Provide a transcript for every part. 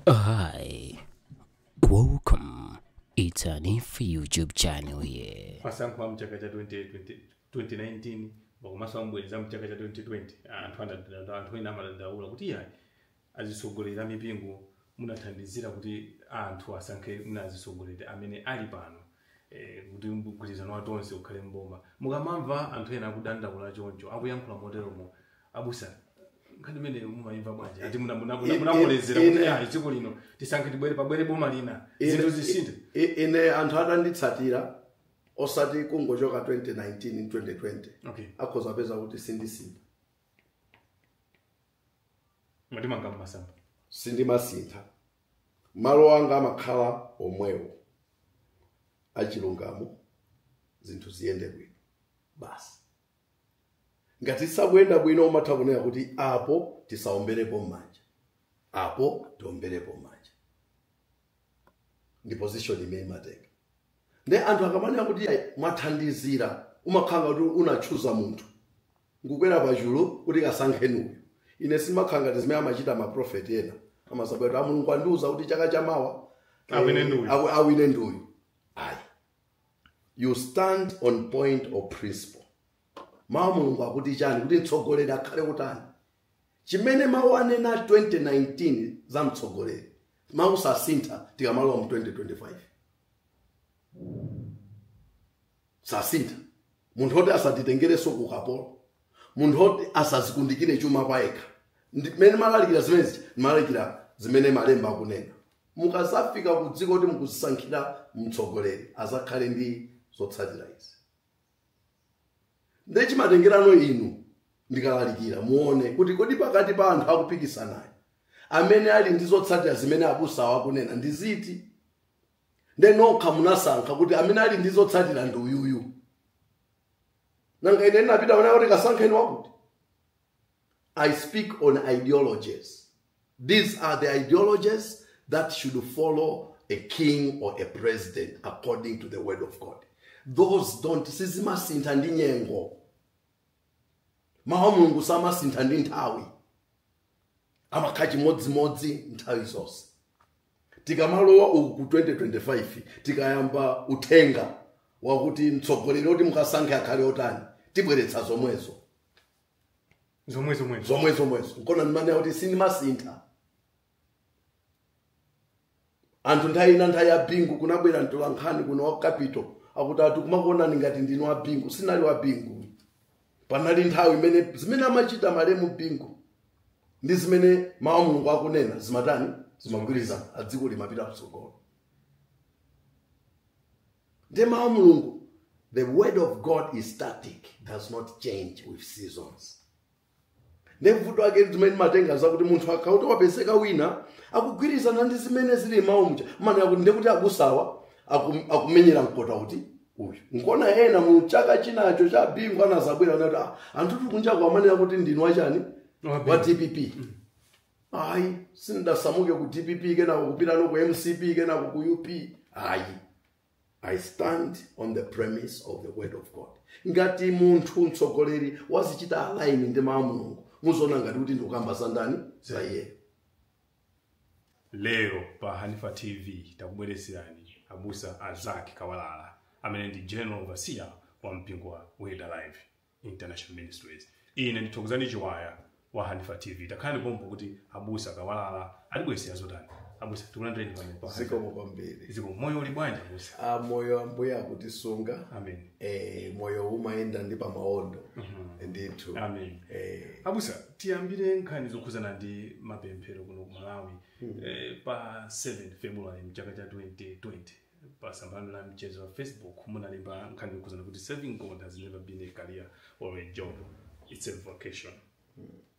Hi, welcome. It's a new YouTube channel here. masankho a mchaka cha 2020 2019 pakomanso obwereza a mchaka cha 2020 anthu anadanda anthu ena amadandaula kuti iyayi azitsogoleri a mipingo munathandizira kuti anthu asankhe azitsogoleri amene ali pano eh, kuti mgwirizano wa tonse ukhale mboma mukamamva anthu ena akudandaula choncho akuyankhula moteromo abusa nkhani imeneyo mumayimva bwanji ati muna- muna- muna- Ine- munamulezera kuti ine- ayi dziko lino tisankhe tibwere pabwere boma lina zinthu zisinthe I- i- ine anthu atanditsatira osati kungochoka 2019 ndi 2020 okay akhoza kupeza kuti sindisintha mwatimanga mmasamba sindimasintha malo anga amakhala omwewo achilungamo zinthu ziyende bwino basi ngati sakuyenda bwino umatha kunena kuti apo tisaomberepo m'manja apo tiomberepo m'manja ndi position imene imatenga nde anthu akamanena kuti "Ayi, mwathandizira umakhala ngati unatchula munthu nkukwera pachulu kuti kasankheni uyu ine simakhala ngati zimene amachita maprofeti ena amasabwera kuti amulungu andiuza kuti chaka chamawa eh, Awine ndi uyu." awi- awine ndi uyu ayi you stand on point of principle mawu a mulungu akuti chani kuti mtsogoleri akhale wotani chimene mawu anena 2019 za mtsogoleri mawu sasintha tikamalowa mu 2025 sasintha munthu oti asatitengerenso ku kapolo munthu oti asazikundikire chuma kwa yekha Ndi- mmene ndimalalikira zimenezi ndimalalikira zimene malemba akunena mukazafika ku dziko kuti mukuzisankhira mtsogoleri azakhale ndi zotsatira izi ndiye chimatengerano inu ndikalalikira muone kuti kodi pakati pa anthu akupikisanayo amene ali ndi zotsatira zimene abusawo akunena ndi ziti nde nokha munasankha kuti amene ali ndi zotsatira ndi uyuyu nanga ine ndinapita kunena kuti kasankheni wakuti I speak on ideologies. These are the ideologies that should follow a king or a president according to the word of God. Those don't sizimasintha ndi nyengo. Mawu a Mulungu samasintha ndi nthawi. Amakhala chimodzimodzi nthawi zonse. tikamalowa uku ku 2025 tikayamba uthenga wakuti mtsogoleri oti mukasankhe akhale otani tibweretsa zomwezo zomwe zomwe zomwe zomwezo nkona ndimanena kuti sindimasintha anthu nthawi ina nthawi ya bingu kunabwera mtola nkhani kuno wa capital akuti ati kumakuonani ngati ndinu wa bingu sindinali wa bingu panali nthawi imene zimene amachita malemu bingu ndi zimene mawu a mulungu akunena zimatani zimagwirizana dziko limapita kutsogolo Ndiye mawu a Mulungu. The word of God is static, does not change with seasons. Ndiye vuto lake zimene timatenga zakuti munthu akati wapezeka wina akugwirizana ndi zimene zili m'mawu muja amanena kuti ndekuti abusawa akum- akumenyera nkhondo kuti uyu nkona ena mu chaka chinacho cha bingu anadzabwera anati "Ah, anthutu kunjaku amanena kuti ndinu wa chipani wa dpp ayi sindasamuke ku dpp kenako kupitanso ku mcp kenako ku up ayi i stand on the premise of the word of god ngati munthu mtsogoleri wazichita align ndi mawu a mulungu muziona ngati kuti ndikukamba za ndani za iye lero pa hanifa tv takubweretserani abusa a zacc kawalala amene ndi general overseer wa mpingo wa word alive International Ministries. Ine ndi Thokozani chiwaya wa Hanifa TV. Takhalani pompa kuti abusa kawalala atibweretsera zotani. Abusa tikulandireni pano pa. zikomo kwambiri Zikomo moyo uli bwanji abusa. Ah, moyo ambuye akutisunga Amen. eh, moyo umayenda ndi pamaondo ndithu Amen. eh, Abusa tiyambire nkhani zokhuzana ndi mapemphero kuno ku Malawi eh, pa 7 February mchaka cha 2020. pa tsamba la mchezo la facebook munalemba nkhani yokhudzana kuti serving god has never been a career or a job it's a vocation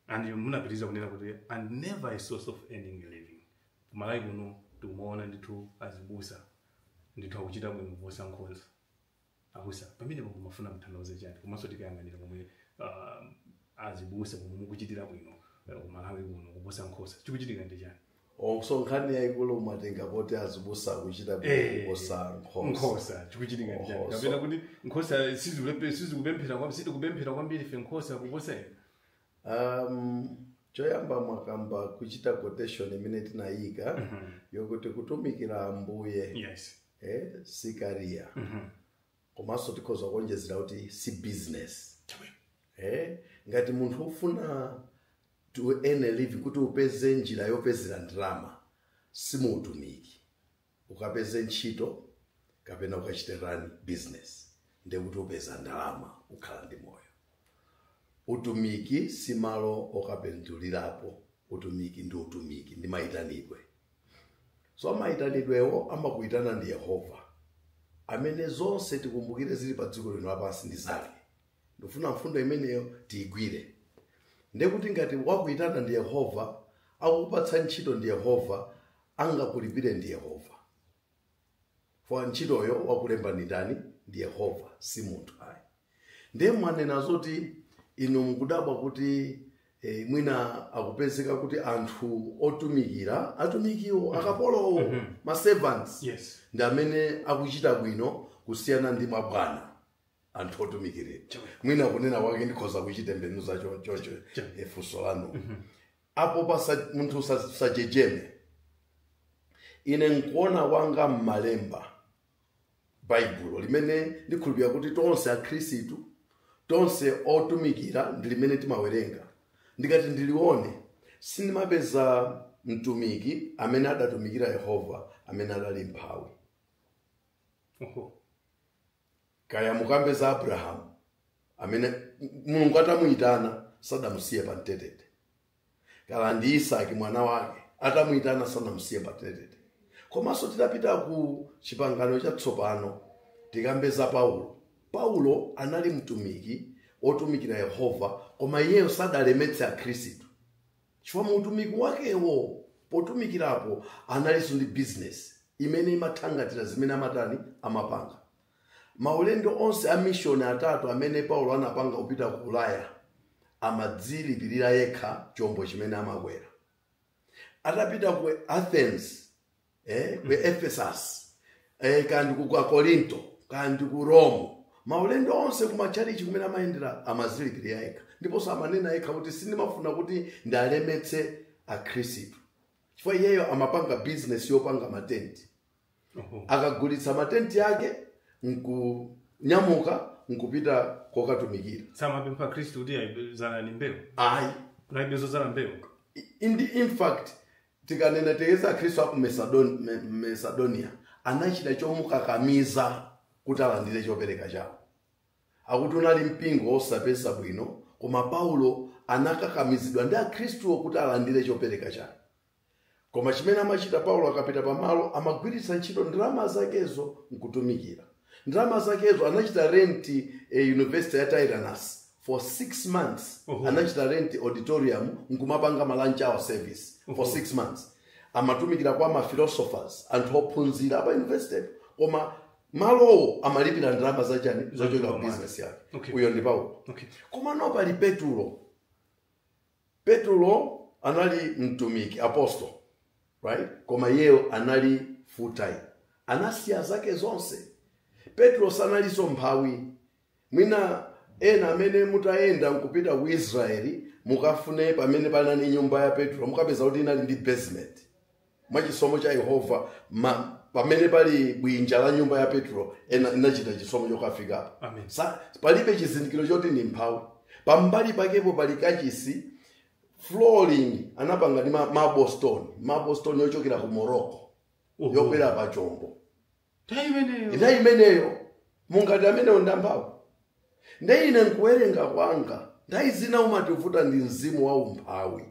and munapitiriza kunena kuti and never a source of earning a living kumalawi kuno tikumaona ndithu azibusa ndithu akuchita bwino kuposa nkhosa Abusa, pamenepa mumafuna mutanthauze chani komanso tikayang'anira momwe uh, azibusa momwe mukuchitira bwino uh, kumalawi kuno kuposa nkhosa chikuchitika ndi chani Eh so nkhani yaikulu umatenga poti azibusa akuchita bwino Eh, kuposa nkhosa nkhosa chikuchitika ndi chani Nkhosa. kapena kuti nkhosa sizikulepe- sizikupemphera kwam- sitikupemphera kwambiri fe nkhosa kuposa ena Um, choyamba mwakamba kuchita quotation imene tinayika mm -hmm. yokuti kutumikira ambuye yes. eh, si career mm -hmm. komanso tikhoza kuonjezera kuti si business eh, ngati munthu ukufuna to earn a living kuti upeze njira yopezera ndalama si mu utumiki ukapeze ntchito kapena ukachite bizinesi ndekuti upeza ndalama ukhala ndi moyo utumiki si malo okapindulirapo utumiki ndi utumiki ndi mayitanidwe so mayitanidwewo amakuyitana ndi yehova amene zonse tikumbukire zili pa dziko lino lapansi ndi zake ndikufuna mfundo imeneyo tiyigwire ndekuti ngati wakuyitana ndi yehova akukupatsa ntchito ndi yehova angakulipire ndi yehova pa ntchitoyo wakulemba ndi ndani ndi yehova si munthu ayi ndiye mwanena zoti inu mukudabwa kuti eh, mwina kukupezeka kuti anthu otumikira atumikiwo akapolowo ma servants yes ndi amene akuchita bwino kusiyana ndi mabwana anthu otumikirira mwina kunena kwake ndikhoza kuchitembenuza cho- chocho eh, funso lanu apo pasakhale munthu usa- usajejeme ine nkuona kwanga m'malemba baibulo limene ndikhulupirira kuti tonse akhristu tonse otumikira ndi limene timawerenga ndikati ndilione sindimapeza mtumiki amene adatumikira yehova amene adali mphawi Oho. kaya mukambe za abrahamu amene mulungu atamuyitana sadamusiye pa mtetete kaya ndi isaki mwana wake atamuyitana sanamusiye pa mtetete komanso titapita ku chipangano chatsopano tikambe za paulo paulo anali mtumiki wotumikira yehova koma iyeyo sadalemetse akhristu Chifukwa mu utumiki wakewo, potumikirapo, analinso ndi bizinesi imene imathangata zimene amatani, amapanga. Maulendo onse a mishoni atatu amene Paulo anapanga kupita ku Ulaya, amadzilipirira yekha chombo chimene amakwera. Atapita ku Athens, eh, ku ephesus eh, kaya ndi ku ku akorinto kaya ndi ku rome maulendo onse kumatchalichi kumene amayendera amadzilipirira yekha ndiponso amanena yekha kuti sindimafuna kuti ndiwalemetse akhristu chifukwa iyeyo amapanga bizinesi yopanga matenti Oho. akagulitsa matenti ake nkunyamuka nkupita kukatumikira samapempha akhristu kuti ayi bzalani mbewu ayi laibe zodzala mbewu Indi, in fact Tikanena tere za Akhristu a ku Mesadon- Me- Mesadoniya anachita chomukakamiza kuti alandire chopereka chawo. Akuti unali mpingo wosapeza bwino koma Paulo anakakamizidwa ndi Akhristuwo kuti alandire chopereka chake. Koma chimene amachita Paulo akapita pamalo amagwiritsa ntchito ndalama zakezo nkutumikira. ndalama zakezo anachita rent eh, university ya Tyrannus for six months Oho. anachita rent auditorium nkumapanga malunch hour service for six months amatumikira kwa maphilosophers anthu ophunzira a pa university koma malowo amalipira ndalama zachani zochokera ku business yake Okay. uyo ndi paulo Okay. komano pali petulo Petulo anali mtumiki apostle right koma iyeyo anali full time anasiya zake zonse petulo sanalinso mmphawi mwina ena amene mutayenda nkupita ku israeli mukafune pamene panali nyumba ya petulo mukapeza kuti inali ndi basement mwa chisomo cha yehova ma- pamene pali bwinja la nyumba ya petulo ena- ndinachita chisomo chokafikapo Amen. Sa- palibe chizindikiro choti ndi mmphawi pambali pakepo pali kachisi flooring anapanga ndi ma- marble stone marble stone yochokera ku morocco Oho. yokwera pa chombo Nthawi imeneyo. nthawi imeneyo mungati amenewo ndi amphawi nde ine nkuwerenga kwanga nthawi zina chimativuta ndi mzimu wa umphawi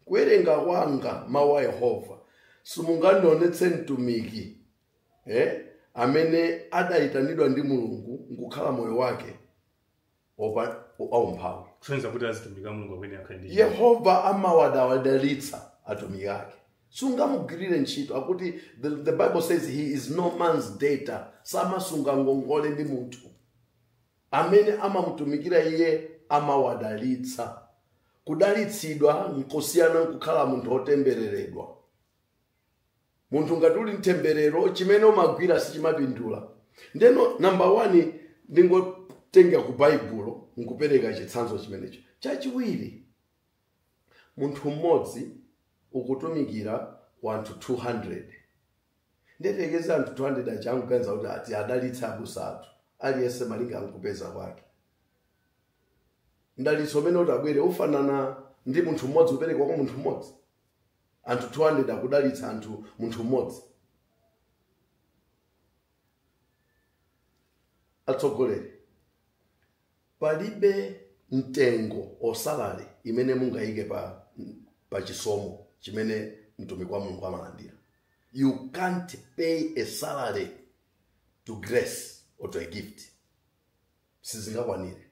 kuwerenga kwanga mawu a yehova simungandionetse mtumiki eh, amene adaitanidwa ndi mulungu nkukhala moyo wake opa- aumphawi kusonyeza kuti azitumika mulungu amene akhale ndi yehova amawadalitsa atumiki ake sungamugwirire ntchito akuti the, the bible says he is no man's debtor samasunga ngongole ndi munthu Amene amamutumikira iye amawadalitsa. Kudalitsidwa nkosiyana nkukhala munthu wotembereredwa. Munthu ngati uli m'temberero, chimene umagwira sichimapindula. Ndeno namba 1 ndingotenga ku Baibulo nkupereka chitsanzo chimenecho. Chachiwiri, munthu mmodzi ukutumikira anthu 200. ndiye upeze anthu 200 aja akuganiza kuti ati adalitse abusa athu aliyense malinga nkupeza kwake mdalitso umene uti ubwere ufanana ndi munthu mmodzi kuperekedwa kwa munthu mmodzi anthu 200 akudalitsa anthu munthu mmodzi atsogoleri Palibe mtengo or salary imene mungaike pa, pa chisomo chimene mtumiki wa Mulungu amalandira. You can't pay a salary to grace or to a gift. Sizingakwanire.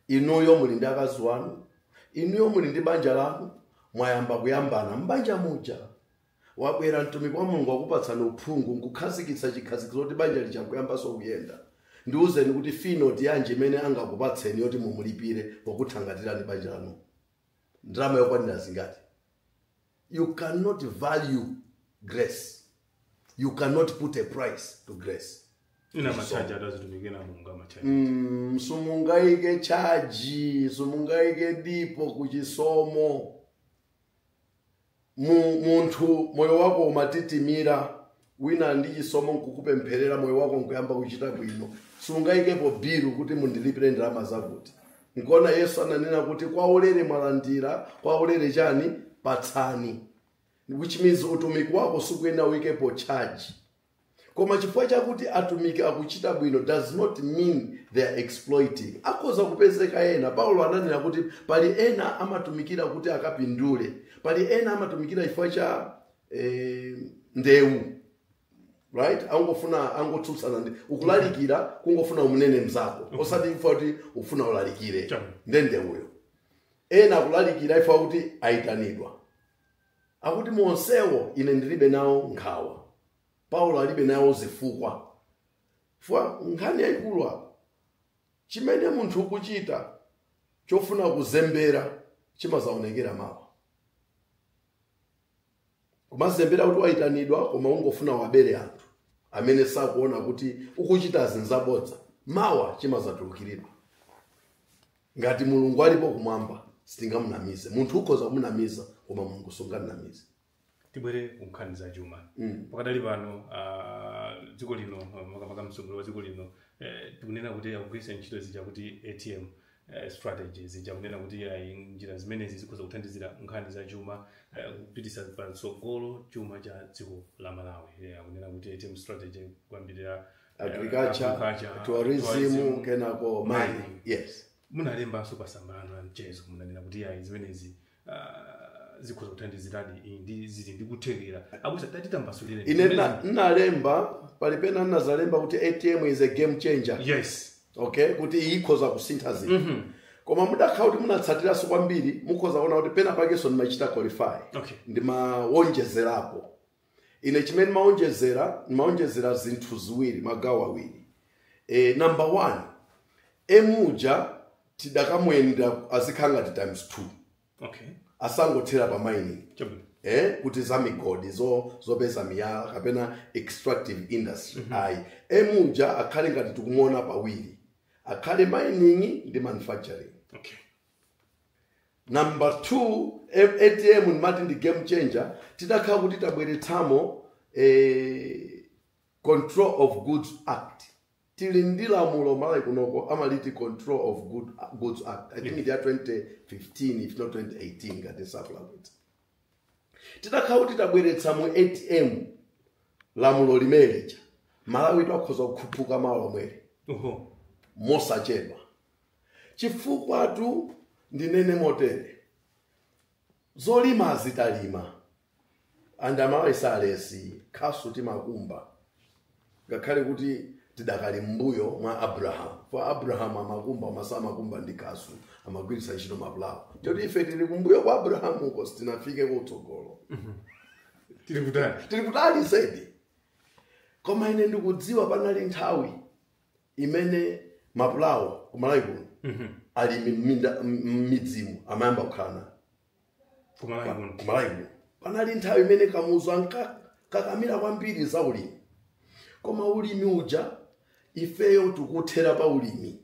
Inuyo muli ndi akazi wanu, inuyo muli ndi banja lanu, mwayamba kuyambana m'banja muja. Wabwera mtumiki wa Mulungu wakupatsani uphungu nkukhazikitsa chikhazikitso kuti banja lija nkuyambanso kuyenda. Ndiuzeni kuti fee note yanji imene angakupatseni yoti mumulipire pokuthangatirani banja lanu. Ndalama yokwanira zingati? You cannot value grace. You cannot put a price to grace. Inde machaji atumiki ena a Mulungu amachaja Mm, simungaike chaji simungaike dipo kuchisomo mu, munthu moyo wako umatitimira wina ndi chisomo nkukupempherera moyo wako nkuyamba kuchita bwino sungayikepo bilu kuti mundilipire ndalama zakuti nkuona yesu ananena kuti kwa ulere mwalandira kwa ulere chani patsani which means utumiki wako sukuyenera uyikepo charge koma chifukwa chakuti atumiki akuchita bwino does not mean they are exploiting akhoza kupezeka ena paulo ananena kuti pali ena amatumikira kuti akapindule pali ena amatumikira chifukwa cha eh, ndewu right angofuna angotsutsana nawe ukulalikira kungofuna umnene mzako osati chifukwa kuti ufuna ulalikire Chama. nde ndewuyo ena akulalikira chifukwa kuti ayitanidwa akuti mu onsewo ine ndilibe nawo nkhawa paulo alibe nawo zifukwa chifukwa nkhani yayikulu apa chimene munthu ukuchita chofuna kuzembera chimazaonekera mawa kumazembera kuti wayitanidwa koma ungofuna uwabere anthu amene sakuona kuti ukuchita zinthu zabodza mawa chimazatulukiridwa ngati mulungu alipo kumwamba sungamunamize munthu ukhoza kumunamiza koma mulungu sunganamize tibwere ku nkhani za chuma Mm. pakadali pano ah, dziko lino makamaka mtsogoleri wa dziko lino eh, tikunena kuti akugwiritsa ntchito zija kuti atm eh, strategy zija kunena kuti ayi njira zimenezi zikhoza kuthandizira nkhani za chuma eh, kupititsa patsogolo chuma cha dziko la malawi Eh, akunena kuti atm strategy kuyambirira agriculture Agriculture, tourism tourism, kenako mining mining. yes munalembanso pamasamba anu a mchezo munanena kuti ayi zimenezi ah, zikhoza kuthandiziradi iyi ndi zili ndi kuthekera abusa tatitambasulireni ine nna- nnalemba pali pena nnazalemba kuti atm is a game changer yes okay kuti ikhoza kusintha zinthu koma mudakhala kuti munatsatiranso kwambiri mukhoza kuona kuti pena pakenso ndimachita qualify Okay. ndimawonjezerapo ine chimene ndimawonjezera ndimawonjezera zinthu ziwiri magawo awiri e, number one emuja tidakamuyendera azikhala ngati times two okay asangothera pa mining chabwino eh, kuti za migodi zo, zopeza miyala kapena extractive industry mm -hmm. ayi emuja akhale ngati tikumuona pawiri akhale mining ndi manufacturing okay Number 2 M- atm imene timati ndi game changer titakhala kuti tabweretsamo eh, control of goods act tili ndi lamulo malawi kunoko amaliti control of good, goods act i think ya 2015 if not 2018 ngati nsakulakwitsa titakhala kuti tabweretsa mu atm lamulo limeneja malawi akhoza kukhuphuka malo omweri Oho. mosachedwa chifukwatu ndinene motere zolimazi timalima and amalawi salesi khasu timakumba ngakhale kuti tidakali mbuyo mwa abrahamu po abrahamu amakumba masa amakumba ndi khasu amagwiritsa ntchito mapulawo choti ife tili kumbuyo kwa abrahamu uko sitinafike kutsogolo mhm. tili kutali tili kutali zedi koma ine ndikudziwa panali nthawi imene mapulawo ku malawi kuno alimi m'minda- m- m'midzimu amayamba kukhala nayo kumalawi kuno ku malawi kuno panali nthawi imene kamuzu ankakakamira kwambiri za ulimi koma ulimi uja ifeyo tikuthera pa ulimi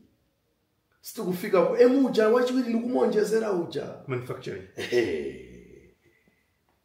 sitikufika ku emu uja wachiwiri ndikumonjezera uja manufacturing Ehe.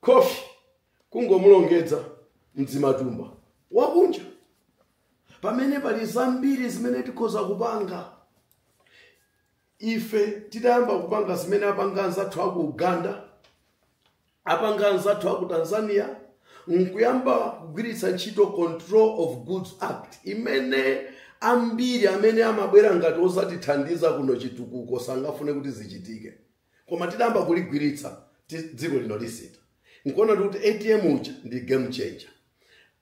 Khofi, kungomulongedza mdzimatumba wakunja pamene pali zambiri zimene tikhoza kupanga ife titayamba kupanga zimene apanga anzathu aku uganda apanga anzathu aku tanzania nkuyamba kugwiritsa ntchito control of goods act imene ambiri amene amabwera ngati odzatithandiza kuno chitukuko sangafune kuti zichitike koma titayamba kuligwiritsa ti- dziko lino lisintha nkuona kuti atm uja ndi game changer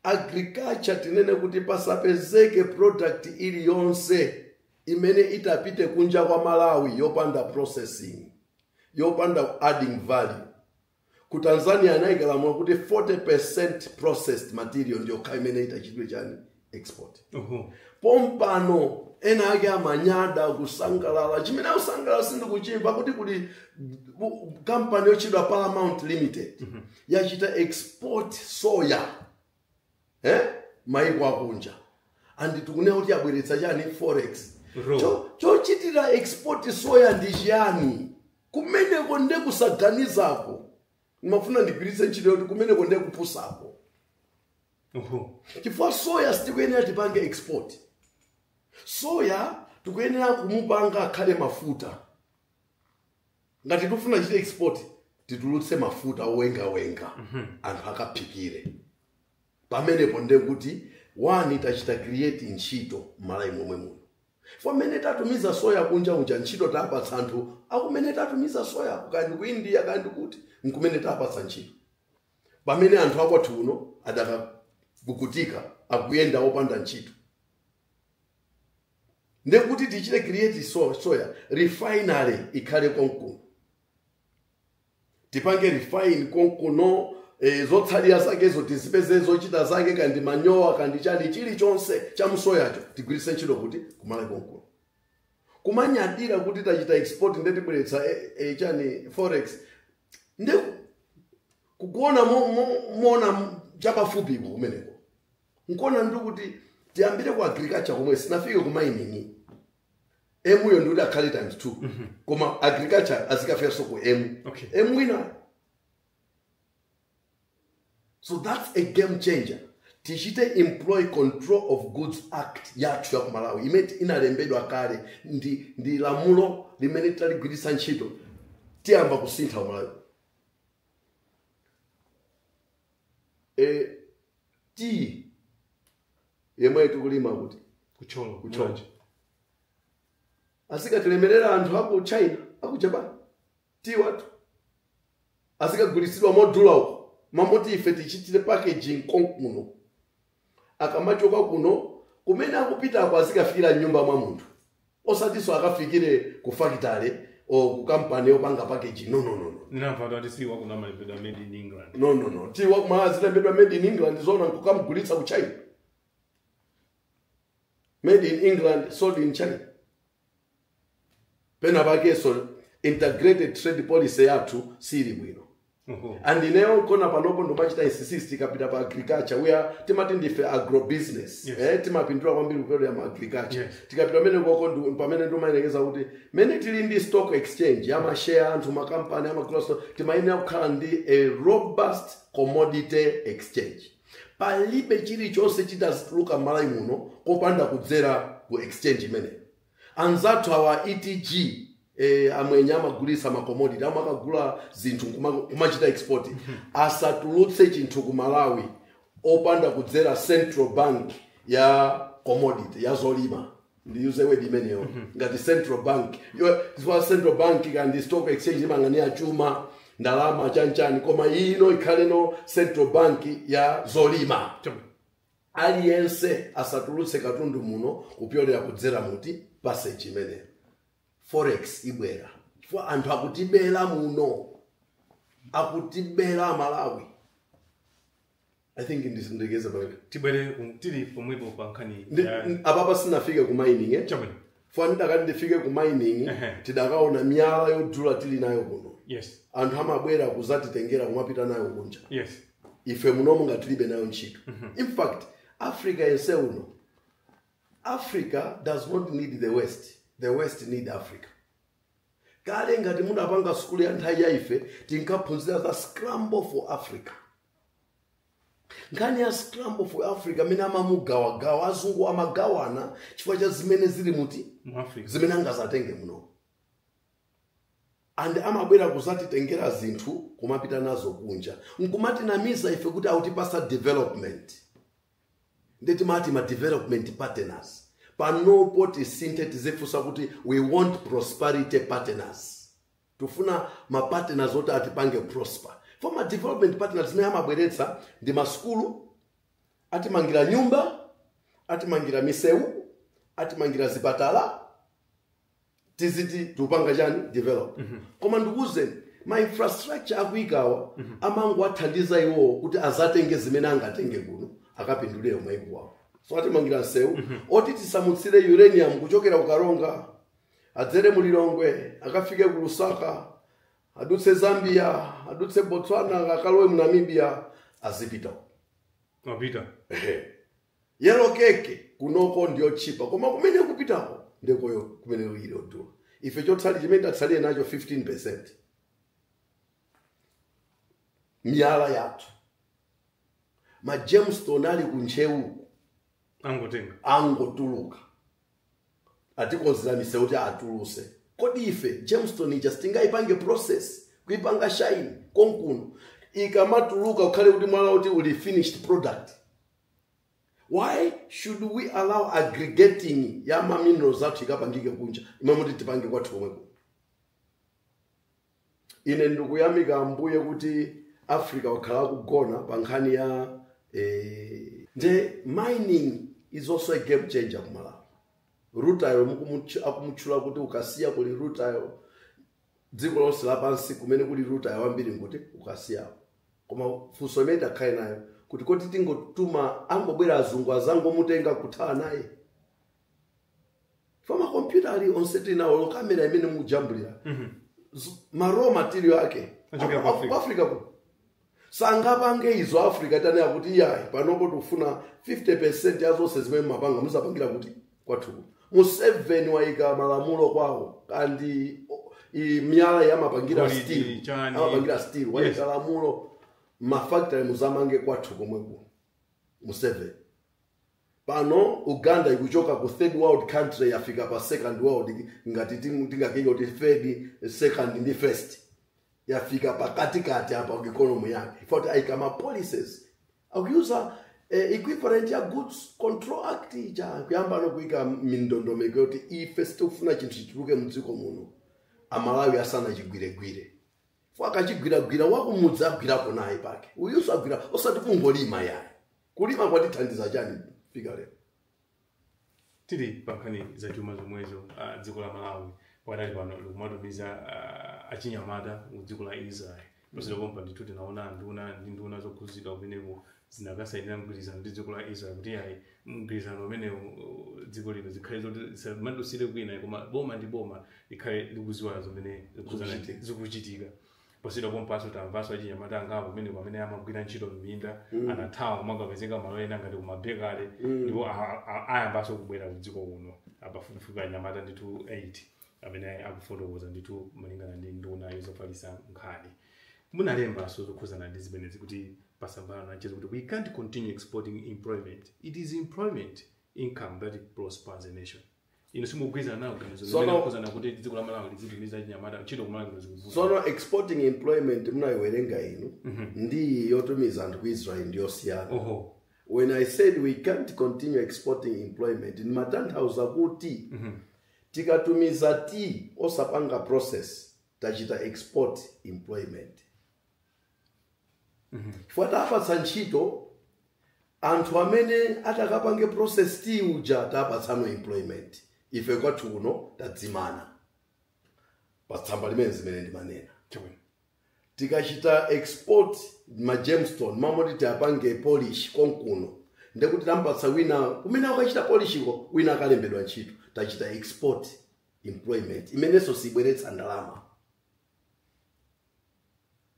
agriculture tinene kuti pasapezeke product iliyonse imene itapite kunja kwa malawi yopanda processing yopanda adding value ku tanzania anaika lamulo kuti 40 processed material ndiyokha imene idzachitidwe chani export Oho. pompano ena ake amanyada kusangalala chimene akusangalala sindikuchimva kuti kuli bu- kampani yotchedwa paramount limited yachita export soya eh? maiko akunja and tikunena kuti abweretsa chani forex Bro. Cho- chochitira export soya ndi chiyani kumeneko nde kusaganizako ndimafuna ndigwiritse ntchito kuti kumeneko nde kupusako Oho. chifukwa soya sitikuyenera tipange export soya tikuyenera kumupanga akhale mafuta ngati tikufuna tichite export titulutse mafuta owengawenga anthu akaphikire pamenepo nde kuti one tachita create ntchito m'malawi momwe muno for mmene tatumiza soya kunja unja ntchito tapatsa anthu akumene tatumiza soya kaya ndi ku india kaya ndi kuti nkumene tapatsa ntchito pamene anthu akwathu uno adakavutika akuyenda opanda ntchito ndiye kuti tichite create so- soya refinery ikhale konkuno tipange refine konkuno e, zotsalira zakezo tizipeze zochita zake kaya ndi manyowa kaya ndi chani chilichonse cha mu soyacho tigwiritse ntchito osati kumakhala konkuno kumanyadira kuti tachita export nde tibweretsa e, e, chani forex nde kuona mo- mo- moona chapafupiko kumeneko nkuona ndili kuti tiyambire ku agriculture komwe sinafike ku mining emuyo ndi kuti akhale times two koma agriculture izikafikanso ku emu Okay. emu wina so that's a game changer tichite employ control of goods act yathu ya ku malawi imene inalembedwa kale ndi, ndi lamulo limene titaligwiritsa ntchito tiyamba kusintha kumalawi e, tiyi yemwe tikulima kuti ku thyolo ku thyolo azikatilemerera anthu aku china aku japan tiyi wathu azikagulitsidwa modula uko mmalo moti ife tichitire packaging konkuno akamachoka kuno kumene akupitako azikafikira mnyumba mwa munthu osatinso akafikire ku fakitale or ku kampani yopanga package no no no no ndinamva kuti tiyi wakuno amalembedwa made in england no no no tiyi wakumalawi azilembedwa made in england zona nkukamugulitsa ku china made in england sold in china pena pakenso integrated trade policy yathu siili bwino and ineyo nchona panopo ndimachita insist ikapita pa agriculture we are timati ndife agrobusiness Yes. eh, timapindula kwambiri kudzera mu agriculture Yes. tikapita pamene koko ndi- pamene ndimayerekeza kuti mene tili ndi stock exchange ya mashare anthu makampani amagula so timayenera kukhala ndi a robust commodity exchange Palibe chilichonse chidzituluka m'Malawi muno kopanda kudzera ku exchange imeneyi. Anzathu awa a ETG eh, amwenye amagulitsa ma commodity amakagula zinthu nkuma- kumachita export asatulutse chinthu ku Malawi opanda kudzera Central Bank ya commodity ya zolima. ndiyuze wedi imeneyo ngati central bank Yo- chifukwa central bank kapena stock exchange imang'anira chuma ndalama chanchani koma ino ikhaleno central bank ya zolima Chama. aliyense asatulutse katundu muno kupyolera kudzera mu passage imeneyo forex ibwera chifukwa anthu akutibera muno akutibera amalawi i think ndizindikeze pamenepo tibwere ku- tili pomwepo pa nkhani Ndi- ya- n- apapa sindinafike ku mining eh? chabwino fine ndikati ndifike ku mining Ehe. tidakaona miyala yodula tili nayo kuno yes anthu amabwera kuzatitengera kumapita nayo kunja yes ife munomu ngati tilibe nayo ntchito in fact africa yense uno africa does not need the west the west need africa kale ngati munapanga sukulu ya nthawi ya ife tinkaphunzira za scramble for africa nkhani ya scramble for africa mmene amamugawagawa azungu amagawana chifukwa cha zimene zili muno mu africa zimene angazatenge muno and amabwera kuzatitengera zinthu kumapita nazo kunja nkumatinamiza ife kuti akutipatsa development nde timawati ma development partners panopo tisinthe tizifunsa kuti we want prosperity partners Tufuna ma partners oti atipange prosper. For ma development partners zimene amabweretsa ndi ma sukulu, atimangira nyumba, atimangira misewu, atimangira zipatala, tiziti tikupanga chani develop. Koma ndikuwuzeni ma infrastructure akuyikawa amangowathandiza iwowo kuti azatenge zimene angatenge kuno akapindulire kumayiko awo. So atimangira nsewu oti tisamutsire uranium kuchokera ku Karonga adzere mu lilongwe akafike ku lusaka adutse zambia adutse botswana akalowe mu namibia azipita uko. amapita Ehe. yellow cake kunoko ndi yotchipa koma kumene ikupitako ndekuyo kumene kuli yodula ife chotsalira chimene tatsalire nacho 15 percent miyala yathu ma gemstone ali ku ntcheu angotenga angotuluka atikonzera misewu kuti atulutse kodi ife gemstone ija sitingayipange process kuipanga shine konkuno ikamatuluka kukhale kuti mwala uja uli finished product why should we allow aggregating ya ma minerals athu ikapangike kunja mmalo moti tipange kwathu komwe kuno ine ndikuyamika ambuye kuti africa wakhala akugona pa nkhani ya eh, nde mining is also a game changer ku malawi rutile mukumutch- akumutchula kuti ku kasiya kuli rutile dziko lonse lapansi kumene kuli rutile wambiri nkuti ku kasiyako koma funso imene titakhale nayo kuti kodi tingotuma angobwera azungu azangomutenga kuthawa naye fa makompyuta ali onse tinawo olo kamera imene mukujambulira Z- ma raw material ake Achokera Aku- ku Africa. aku- africa ku sangapange izo africa tanena kuti iyayi panopo tikufuna 50 percent ya zonse zimene mumapanga muzapangire kuti kwathuku museveni wayika malamulo kwawo kuti o- i- miyala yamapangira Golidi, steel chani. amapangira steel Yes. wayika lamulo mafactory muzamange kwathu komweko museveni pano uganda ikuchoka ku third world country yafika pa second world ngati ting- tingakenga kuti third second ndi first yafika pakatikati apa ku economy yake in fact ayika ma policies akuyuza eh, equivalent ya goods control act ija kuyamba kuyika mindondomeko yoti ife sitikufuna chinthu chituluke mdziko muno amalawi asanachigwiregwire for akachigwiragwira wakumudzi agwirapo naye pake uyuso agwira osati kungolima ayi kulima kwatithandiza chani fika lero tili pankhani za chuma zomwezo ah, dziko la malawi padali pano likumatumiza ah, achinyamata ku dziko la israel posachedwa pompa ndithu tinaona nduna ndi nduna zokhudzidwa kumeneko zinakasainira mgwirizano ndi dziko la israel kuti ayi mgwirizano umenewu uh, dziko lino zikhale zoti zisamadutsire kwina koma boma ndi boma likhale likudziwa zimene zikuzana- Zikuchitika. zikuchitika Posachedwa pompanso tamvanso achinyamata angapo kumeneko amene amagwira ntchito m'minda mm. anathawa kumakapezeka malo ena ngati kumabekale mm. ndipo ayambanso kubwera kudziko kuno apafupifupi anyamata ndithu 8 amene akufotokoza ndithu malingana ndi nduna yozofalisa nkhani munalembanso zokhuzana ndi zimenezi kuti patsamba la mchezo kuti we can't continue exporting employment it is employment income that prospers a nation inu simukugwirizana nalo ganizo Sono- limene kukhuzana kuti dziko la malawi lizitumiza achinyamata ntchito kumalawi kuno zikuvuta sono exporting employment munayiwerenga inu ndi yotumiza anthu ku israel ndiyosiyana oho when i said we can't continue exporting employment ndimatanthauza kuti tikatumiza tea osapanga process tachita export employment chifukwa tapatsa ntchito anthu amene atakapange process tea uja tapatsa employment ife kwathu kuno tadzimana patsamba limenelo zimene ndimanena Chabwino. tikachita export ma gemstone mmalo moti tiwapange polish konkuno ndekuti tampatsa wina kumene akachita polish-ko wina akalembedwa ntchito tachita export employment imenenso sibweretsa ndalama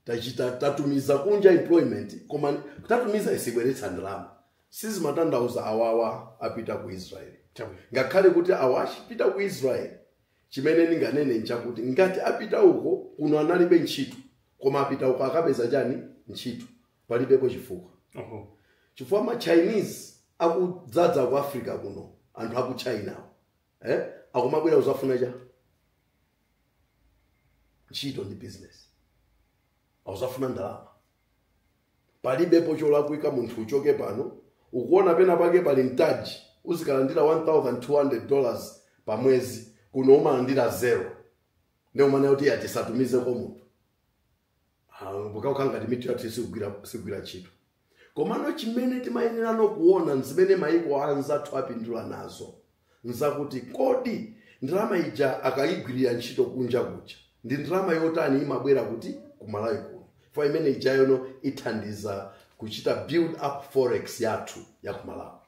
tachita tatumiza kunja employment koma tatumiza isibweretsa ndalama sizikutanthauza awawa apita ku israeli Chabwino. ngakhale kuti awa achipita ku israeli chimene ndinganene nchakuti ngati apita uko kuno analibe ntchito koma apita uko akapeza chani ntchito palibepo chifukwa Oho. chifukwa ma chinese akudzadza ku africa kuno anthu aku china awo. eh? akumabwera kuzafuna chani ntchito ndi business akuzafuna ndalama palibepo cholakwika munthu achoke pano ukuona pena pake pali mtaji uzikalandira 1200 dollars pa mwezi kuno umalandira zero nde umanena kuti tisatumizeko munthu pokha ukhala ngati mitu yathu sikugwira ntchito komano chimene timayenerano kuona nzimene maiko anzathu apindula nazo nzakuti kodi ndalama ija akayigwirira ntchito kunja kuja ndi ndalama yotani imabwera kuti kumalawi kuno fo imene ija iyo no ithandiza kuchita build up forex yathu ya kumalawi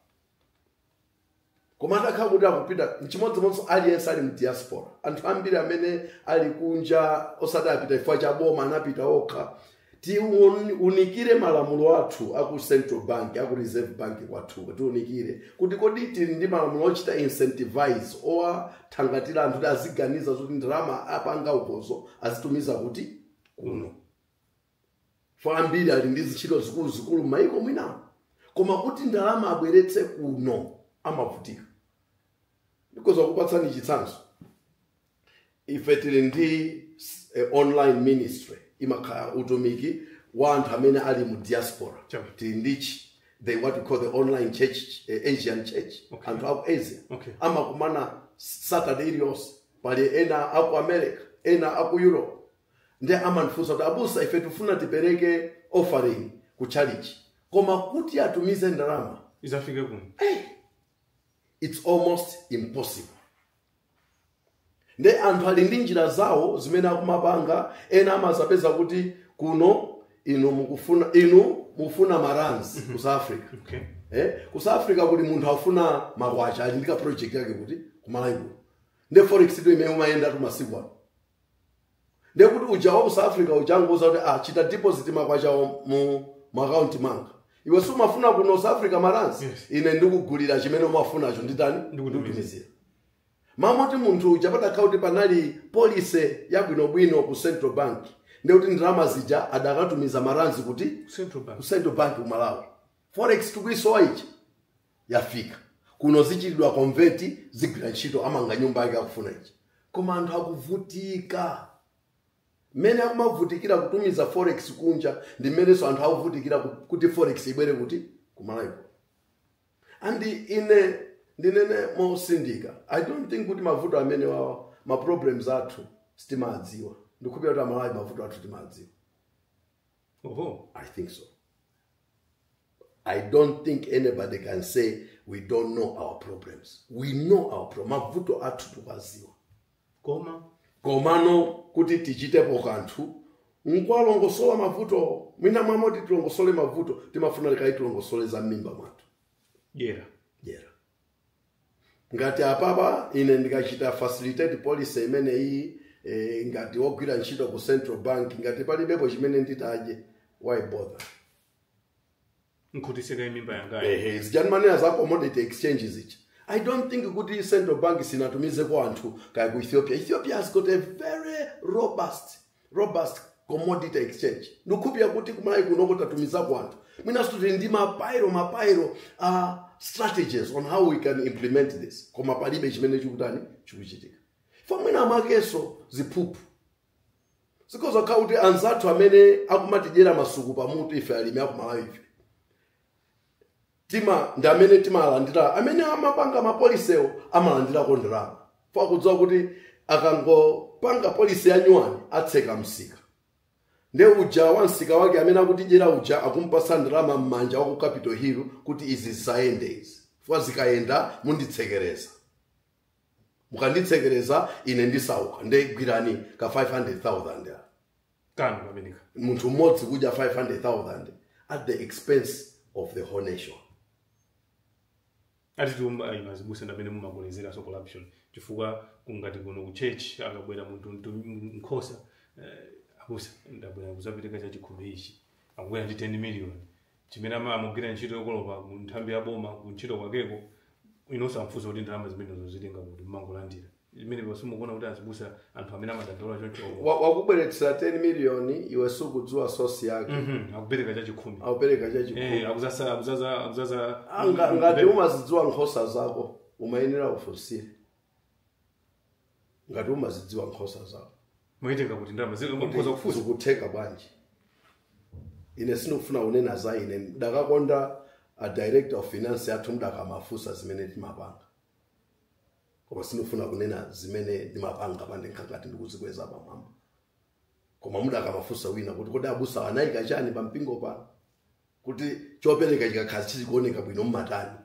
koma atakhala kuti akupita nchimodzimodzinso aliyense ali mdiaspora anthu ambiri amene ali kunja osati apita chifukwa cha boma anapita okha tiunikire malamulo athu aku central bank aku reserve bank kwathuko tiunikire kuti kodi tili ndi malamulo ochita incentivize owathangatira anthu kuti aziganiza zoti ndalama apanga ukozo azitumiza kuti kuno kuli ambiri ali ndi zintchito zikuluzikulu m'mayiko mwinamo koma kuti ndalama abweretse kuno amavutika ndikoza kukupatsani chitsanzo ife tili ndi eh, online ministry imakhala utumiki wa anthu amene ali mu diaspora Chabwino. tili ndi chi- the what we call the online church eh, asian church Okay. anthu aku asia Okay. amakumana saturday iliyonse pali ena aku america ena aku europe ndiye amandifunsa kuti abusa ife tifuna tipereke offering ku chalichi koma kuti atumize ndalama izafike kuno hey, it's almost impossible nde anthu ali ndi njira zawo zimene akumapanga ena amazapeza kuti kuno inu mukufuna inu mufuna marands ku south africa okay eh? ku south africa kuli munthu afuna makwacha ali ndi ka project yake kuti kumalawiko nde forex ndo imene imayendatu masiku ano ndiye kuti uja wa ku south africa uja angouza kuti ah, chita deposit makwacha wo mu akaunti mwanga iwe si umafuna ku south africa maransi Yes. ine ndikugulira chimene umafunacho nditani ndikutumizira mmanja mwa munthu uja padakhala kuti panali polise yabwinobwino ku central bank ndiye kuti ndalama zija adakatumiza maransi kuti ku central bank ku central bank ku malawi forex tikuisowa ija yafika kuno zichitidwa convert zigwira ntchito amanga nyumba yake akufuna ichi koma anthu akuvutika mmene akumavutikira kutumiza forex kunja ndi mmenenso anthu akuvutikira ku- kuti forex ibwere kuti kumalawiko and ine ndinene motsindika i don't think kuti mavuto amene wawa ma problems athu sitimawadziwa ndikukhulupirira kuti amalawi mavuto athu timawadziwa oho i think so i don't think anybody can say we don't know our problems we know our pro mavuto athu tikuwaziwa koma komano kuti tichitepo kanthu nkwalongosola mavuto mwina mwamoti tilongosole mavuto timafuna lekani tilongosole za mmimba mwathu dyera dyera ngati apapa ine ndikachita facilitate policy imeneyi eh, ngati wogwira ntchito ku central bank ngati palibepo chimene nditadye why bother nkhutisire mimba yangayo ehe zija mmanena za commodity exchange zicha i don't think kuti central bank sinatumizeko anthu kaya ku ethiopia ethiopia has got a very robust robust commodity exchange ndikukhulupirira kuti kumalawi kunoko tatumizako anthu mwinanso tili ndi mapairo mapairo a strategies on how we can implement this koma palibe chimene chikutani chikuchitika fa mwina mwakenso ziphuphu zikhoza kukhala kuti anzathu amene akumatidyera masuku pamutu ife alimi akumalawife tima ndi amene timalandira amene amapanga mapolisiwo amalandirako ndalama fa akudziwa kuti akangopanga polisi yanyuwani atseka msika nde uja wa msika wake amene akutidyera uja akumpasa ndalama m'manja wa ku capital hill kuti izi zisayende izi fwa zikayenda munditsekereza mukanditsekereza ine ndisauka nde gwirani ka 500000 kanthu kameneko munthu mmodzi kudya 500000 at the expense of the whole nation ati inu azibusa ndamene mumakolezera so corruption chifukwa kungati kuno ku church akabwera munthu mtu- m- nkhosa eh, abusa ndabwera kuzapereka chachikhumi ichi akubwera ndi 10 million chimene amagwira ntchito yokolopa mu nthambi ya boma ku ntchito kwakeko inu osamfunsa kuti ndalama zimenezo wazitenga kuti mmangolandira imenepo simukuona kuti azibusa anthu amene amadandaula choncho Wa- wakubweretsera 10 million iwe sukudziwa source yake Mhm, akupereka chachikhumi akupereka Eh, chachikhumi akuzaza akuzaza akuzaza Anga- ngati umazidziwa nkhosa zako umayenera ufunsire ngati umazidziwa nkhosa zawo mwaitenga kuti ndalama zili kuti mukhoza kufunsa zikutheka bwanji ine sindikufuna kunena za ine mdakakonda a director of finance athu mdakamafunsa zimene timapanga koma sindikufuna kunena zimene ndimapanga pangakhale ngati ndikuzikweza pamwamba koma mdakamafunsa wina kuti kodi abusa anayika chani pa mpingo pano kuti chopereka chikakhala chizikuoneka bwino mumatani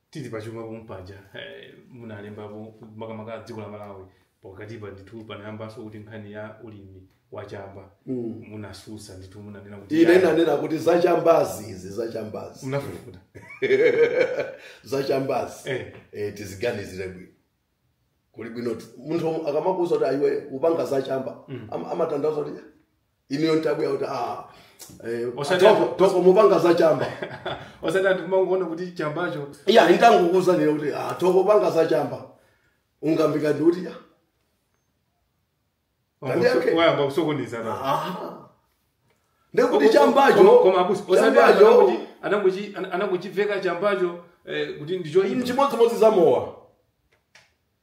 tili pachuma pomwe paja eh, munalembapo makamaka a dziko la malawi pakatipa ndithu panayambanso kuti nkhani ya ulimi wachamba munatsutsa ndithu munanena kuti ine nanena kuti zachambazi izi zachambazi munafufuta zachambazi Eh. eh, tiziganizire bwino kuli bwino ti- munthu akamakuuza kuti ah iwe upanga zachamba am- amatanthauza kuti inuyo nditabwera kuti ah, eh, Osati- toko- toko mupanga za chamba osati anthu timangoona kuti chambacho iya nditangokuuza nile kuti ah, toko panga za chamba ungamvike ndi kuti ah, Kani yake? wayamba kusokoneza na aha. ndi kuti chambacho koma abusi osati anthu chambacho anangochi- anangochi- ana- anangochiveka chambacho eh, kuti ndicho chimodzimodzi za mowa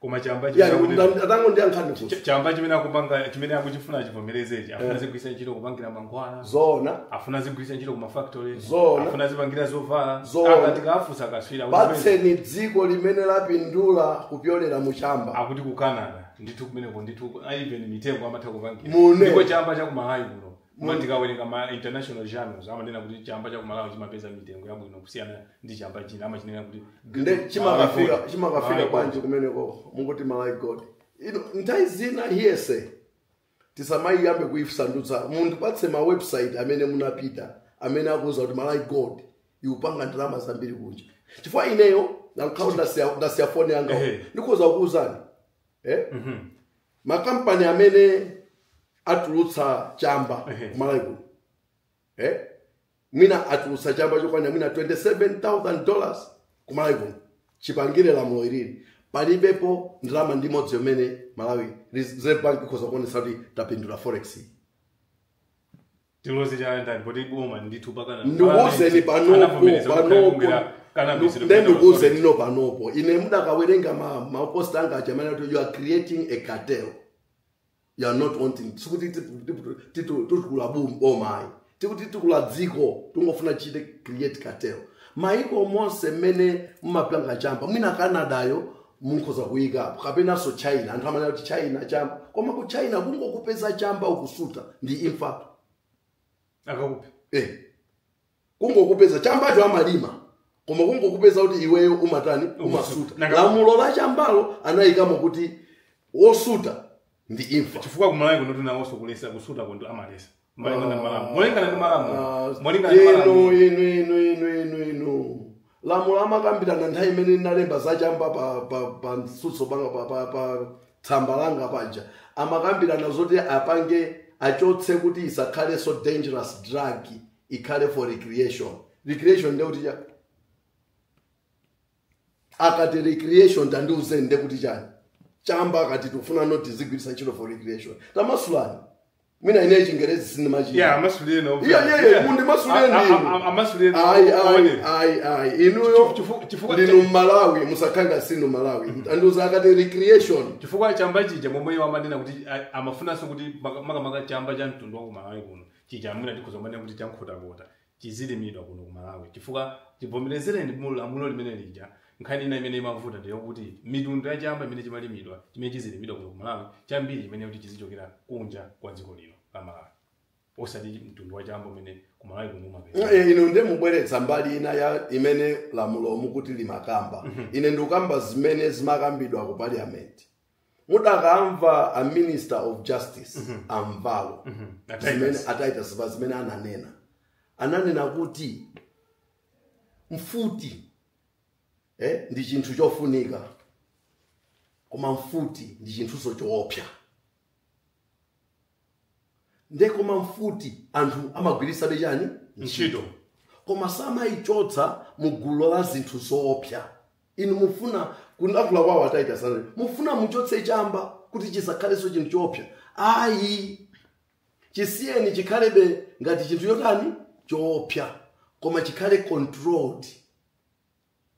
koma chamba Ya, chimene akuti- nda- atangondiyankhani funso ch- chamba chimene akupanga chimene akuchifuna chivomerezechi afuna azigwiritsa ntchito kupangira mankhwala zoona afuna azigwiritsa ntchito ku mafactory Zoona. afuna azipangira zovala Zoona. Koma tikafunsa katswiri kuti kwezi, patseni dziko limene lapindula kupyolera mu chamba akuti ku canada ndithu kumeneko ndithu even mitengo amatha kupangira Mune. ndipo chamba cha kumalawi kuno koma ndikawerenga ma international journals amanena kuti chamba cha kumalawi chimapeza mitengo yabwino kusiyana ndi chamba china amachinena kuti nde chimakafika chimakafika bwanji kumeneko mumangoti malawi gold ino nthawi zina hiyese tisamayiyambe kunamiza munthu atipatse ma website amene munapita amene akuuzani kuti malawi gold ikupanga ndalama zambiri kunja chifukwa ineyo nankhawo ndasiya foni yanga Ehe. ndidzakuuzani eh? makampani amene atulutsa chamba Ehe. kumalawi kuno eh? mwina atulutsa chamba chokwanira mwina 27000 dollars kumalawi kuno chipangire lamulo ilili palibepo ndalama ndi imodzi yomwe malawi reserve bank ikhoza kuonetsa kuti tapindula forex iyi. tiloze chala ndani poti boma ndithu pakana ndikuuzeni panopo anavomereza kuti panopo kulima cannabis nde ndikuuzeni no panopo ine mudakawerenga ma- mapost anga aja amene ati you are creating a cartel you are not wanting sikuti tipu- tipu- titu- titukule bum- boma ayi tikuti titukula dziko tingofuna tichite create cartel maiko onse mmene mumapanga chamba mwina canadayo mukhoza kuyikapo kapenanso china anthu amanena kuti china chamba koma ku china kungokupeza chamba ukusuta ndi imfatu akakuphe eh. kungokupeza chambacho amalima koma kungokupeza kuti iweyo umatani umasuta Nanga- lamulo la chambalo anayikamo kuti wosuta ndi imfa chifukwa kumalawi kuno tinawonso kuletsa kusuta kunthu amaletsa Molingana ndi malamulo. Molingana ndi malamulo. Ah, Molingana ndi inu malamulo. inu inu inu inu inu lamulo amakambirana nthawi imene ndinalemba zachamba pa pa pa mtsutso pa pa pa tsamba langa paja amakambirana zoti apange achotse kuti isakhalenso dangerous drug ikhale for recreation recreation ndekuti cha akati recreation tandiuzeni nde kuti chani chamba akati tikufuna no tizigwiritsa ntchito for recreation tamasulani mwina ineyi chingerezi sindimachita yeah amasuleni no Yeah, yeah, yeah, mundimasulireni A- a- ndinu. a- amasuleni no Ayi, ayi, one. ayi, ayi. inuyo Chifu- chifu- chifukwa- ndinu mmalawi musakhanga sinu mmalawi tandiuzani akati recreation chifukwa chamba chija momwe iwo amanena kuti a- amafunanso kuti maka- makamaka chamba cha mtundu wa kumalawi kuno chija mwina tikhoza kumanena kuti chankhotakota chizilimidwa kuno ku Malawi chifukwa chivomerezedwe mu lamulo limene lija nkhani ina imene imavuta ndi yokuti mitundu ya chamba imene chimalimidwa chimene chizilimidwa kuno ku Malawi chambiri imene kuti chizichokera kunja kwa dziko lino la Malawi osati mtundu wa chamba umene ku Malawi kuno umapezeka Eh, inu nde mukubweretsa mbali ina ya imene lamulo mukuti limakamba ine ndikukamba zimene zimakambidwa ku parliament mudakamva a minister of justice a Mvalo Titus zimene a Titus pa zimene ananena ananena kuti mfuti eh, ndi chinthu chofunika koma mfuti ndi chinthunso choopsa nde koma mfuti anthu amagwiritsabe chani Ntchito. koma samayichotsa mu gulu la zinthu zoopsa inu mufuna kuyankhula kwawo a Titus amati mufuna muchotse chamba kuti chisakhalenso chinthu choopsa ayi chisiyeni chikhalebe ngati chinthu chotani choopsa koma chikhale controlled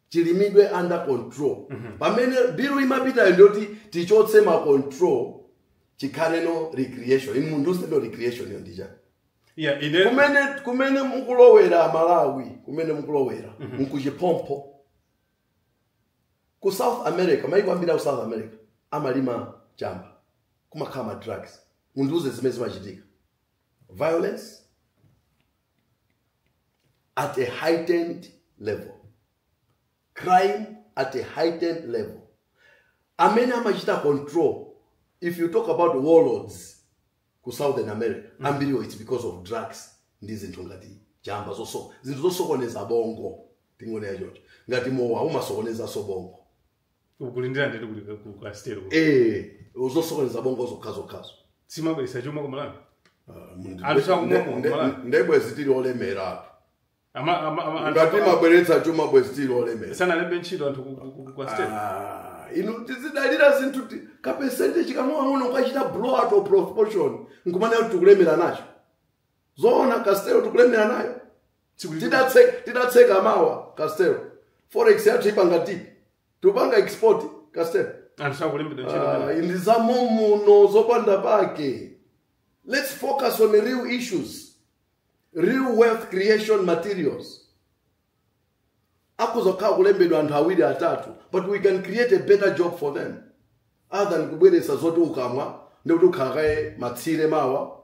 chilimidwe under control pamene bilu imapitayo ndiyoti tichotse ma control chikhale no recreation inu munthu mundiuze recreation yo ndi chani yeah ine kumene kumene mukulowera aMalawi kumene mukulowera nkuchiphompho ku south america maiko ambiri aku south america amalima chamba kumakhala ma drugs mundiuze zimene zimachitika violence at a heightened level crime at a heightened level amene amachita control if you talk about warlords ku southern america mm. ambiriwo its because of drugs ndi zinthu ngati chamba zonse zinthu zosokoneza bongo tingonena chocho ngati mowa umasokonezanso bongo ukulindira ndende kuti ka- ku- ku asitero ee zosokoneza bongo zokhazokhazo zimabweretsa chuma kumalawi Anthu sakumwa mu Malawi. nde bwezi tili olemera apo Ama- ama- ama- anthu- ngati zimabweretsa chuma bwezi tili olemera sanalembe ntchito anthu ku- ku- ku- ku Castel Ah, inu tizidalira zinthu ti- ka percentage kang'onoang'ono nkukachita blow out of proportion nkumanena kuti tikulemera nacho zoona Castel tikulemera nayo tsiku lina. Titatseka titatseka mawa castel forex yathu ipanga ti- tikupanga export castel anthu sakulembedwa ntchito Ah, pamene. ndi za mommuno zopanda pake let's focus on real issues real wealth creation materials akuzakhala kulembedwa anthu awiri atatu but we can create a better job for them other than kubweretsa zoti ukamwa nde kuti ukhale kaye matsire mawa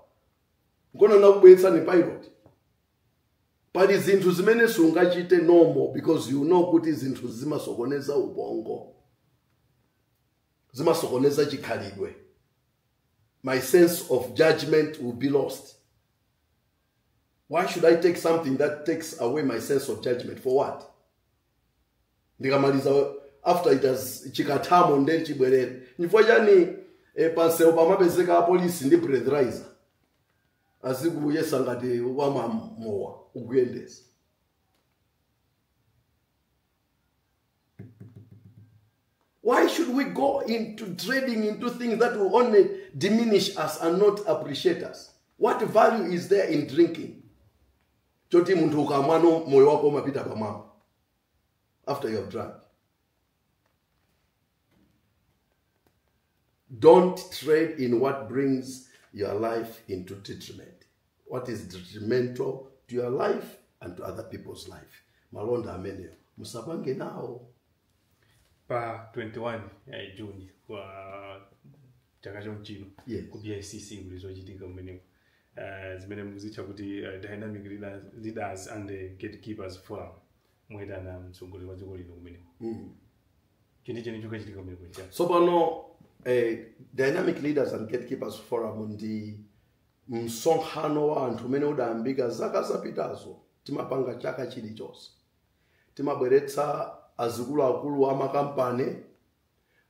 nkono nakubweretsani pilot pali zinthu zimene sungachite normal because you know kuti zinthu zimasokoneza ubongo zimasokoneza chikhalidwe my sense of judgment will be lost why should i take something that takes away my sense of judgment for what ndikamaliza after it has chikathamo nde chibwerere chifukwa chani eh, pansewu pamapezeka apolisi ndi breathalyser azikuyesa ngati wamwa mowa ukuyendesa Why should we go into trading into things that will only diminish us and not appreciate us? What value is there in drinking? Choti munthu ukamwa nomoyo wako umapita pamwamba after you have drunk. Don't trade in what brings your life into detriment. What is detrimental to your life and to other people's life. Malonda ameneyo musapange nawo. pa 21 ya juni chaka chomchino Yes. ku bicc muli zochitika kumeneko uh, zimene mukuzitcha kuti uh, dynamic leaders, leaders and the gatekeepers forum mwayitana mtsogoleri wa dziko lino kumeneko Mm. chenicheni chokachitika kumenekuja tsopano eh, dynamic leaders and gatekeepers forum ndi msonkhano wa anthu umene udayambika zaka zapitazo timapanga chaka chilichonse timabweretsa azikuluakulu a makampani